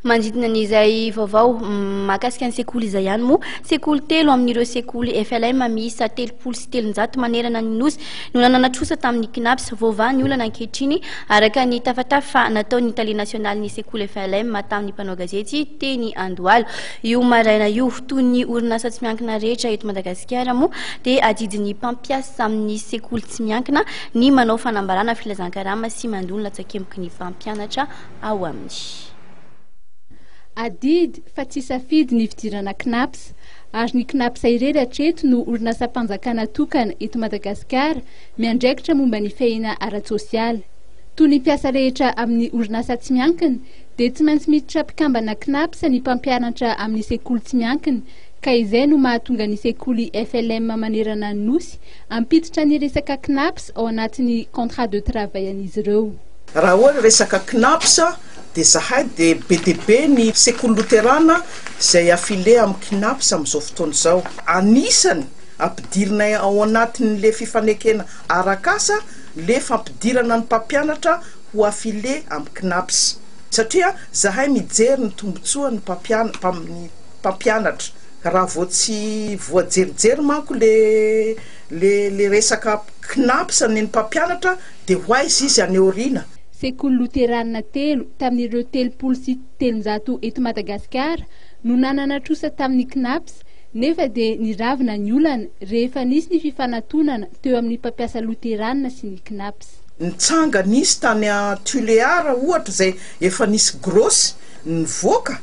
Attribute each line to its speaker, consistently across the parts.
Speaker 1: Manodidina ny izay vaovao mahakasika ny sekoly izay ihany moa, sekoly telo amin'ireo sekoly FLM miisa telopolo sy telonjato manerana ny Nosy no nanana trosa tamin'ny Cnaps. Voavaha ny olana ankehitriny, araka ny tafatafa nataon'ny tale nasionalin'ny sekoly FLM tamin'ny mpanao gazety teny Andohalo io maraina io. Toy ny orinasa tsy miankina rehetra eto Madagasikara moa dia adidin'ny mpampiasa amin'ny sekoly tsy miankina ny manao fanambarana, filazankarama sy mandona latsakemboky ny mpampianatra. ao amin'ny. Adidy
Speaker 2: fa tsy safidy ny fidirana Cnaps, ary ny Cnaps irery hatreto no orinasam-panjakana tokana eto Madagasikara miandraikitra momba ny fihena ara-tsosialy. Toy ny mpiasa rehetra amin'ny orinasa tsy miankina, dia tsy maintsy miditra mpikambana Cnaps ny mpampianatra amin'ny sekoly tsy miankina, ka izay no mahatonga ny sekoly FLM manerana ny Nosy hampiditra ny resaka Cnaps ao anatin'ny contrat de travail an'izy ireo. Raha hoe resaka
Speaker 3: Cnaps dia zahay dia be dia be ny sekoly loterana izay affilier amin'ny Cnaps amin'izao fotoana izao. Anisany ampidirinay ao anatin'le fifanekena arak'asa le fampidirana ny mpampianatra ho affilier amin'ny Cnaps satria zahay mijery ny tombotsoan'ny mpampianany mpampianatra raha vao tsy voajerijery manko le le resaka Cnaps ny mpampianatra dia ho aiza izy any aoriana? Sekoly loterana
Speaker 2: telo tamin'ireo telopolo sy telonjato eto Madagasikara no nanana trosa tamin'ny Cnaps nefa dia niravina ny olana rehefa nisy ny fifanatonana teo amin'ny mpampiasa loterana sy ny Cnaps. Nitsanga nisy
Speaker 3: tany à Tuléar ohatra izay efa nisy gros nivoaka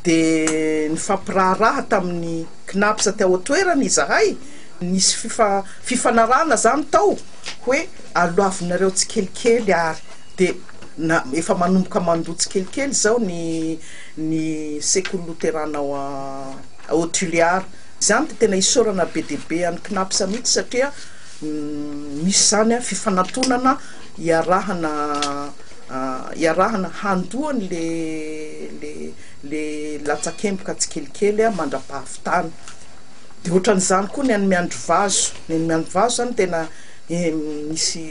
Speaker 3: dia nifampiraharaha tamin'ny Cnaps tao an-toerana izahay, nisy fifanarahana izany tao. Hoe aloavinareo tsikelikely ary dia na efa manomboka mandoa tsikelikely izao ny ny sekoly loterana ao ao Tulear. Izany dia tena isaorana be dia be an'i Cnaps mihitsy satria misy izany fifanantonana iarahana iarahana handoa ny le le le latsakemboka tsikelikely mandrapahavitana. Dia ohatran'izany koa ny an'i Miandrivazo. Ny an'i Miandrivazo izany tena misy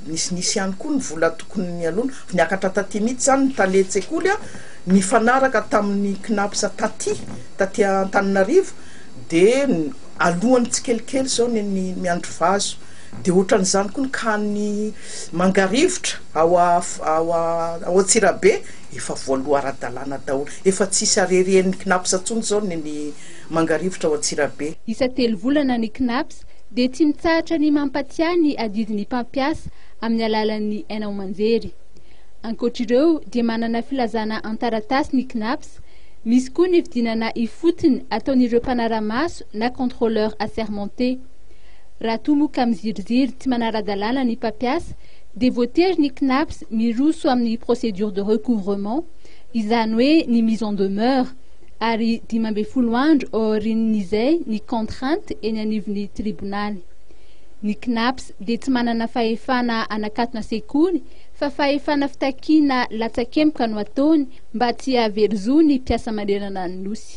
Speaker 3: nisy nisy ihany koa ny vola tokony nialoana. Niakatra taty mihitsy izany ny talen-tsekoly an, nifanaraka tamin'ny Cnaps taty, taty Antananarivo, dia aloany tsikelikely izao ny an'i Miandrivazo. Dia ohatran'izany koa ny CANI Mangarivotra ao ao ao Antsirabe, efa voaloa ara-dalàna daholo. Efa tsy hisy arerien'ny Cnaps intsony izao ny an'i. Mangarivotra ao Antsirabe. Isa-telovolana
Speaker 2: ny Cnaps dia tsy mitsahatra ny mampatiahy ny adidy ny mpampiasa amin'ny alalan'ny haino aman-jery. Ankoatr'ireo dia manana filazana an-taratasy ny Cnaps, misy koa ny fidinana ifotony ataon'ireo mpanara-maso na contrôleurs assermentés. Raha toa moa ka miziriziry tsy manara-dalàna ny mpampiasa dia voatery ny Cnaps miroso amin'ny procédure de recouvrement, izany hoe ny mise en demeure, ary dimy ambin'ny folo andro aorian'izay ny contrainte eny anivon'ny tribonaly. Ny Cnaps dia tsy manana fahefana hanakatona sekoly fa fahefana fitakiana latsakemboka no ataony mba tsy hahavery zo ny mpiasa manerana ny Nosy.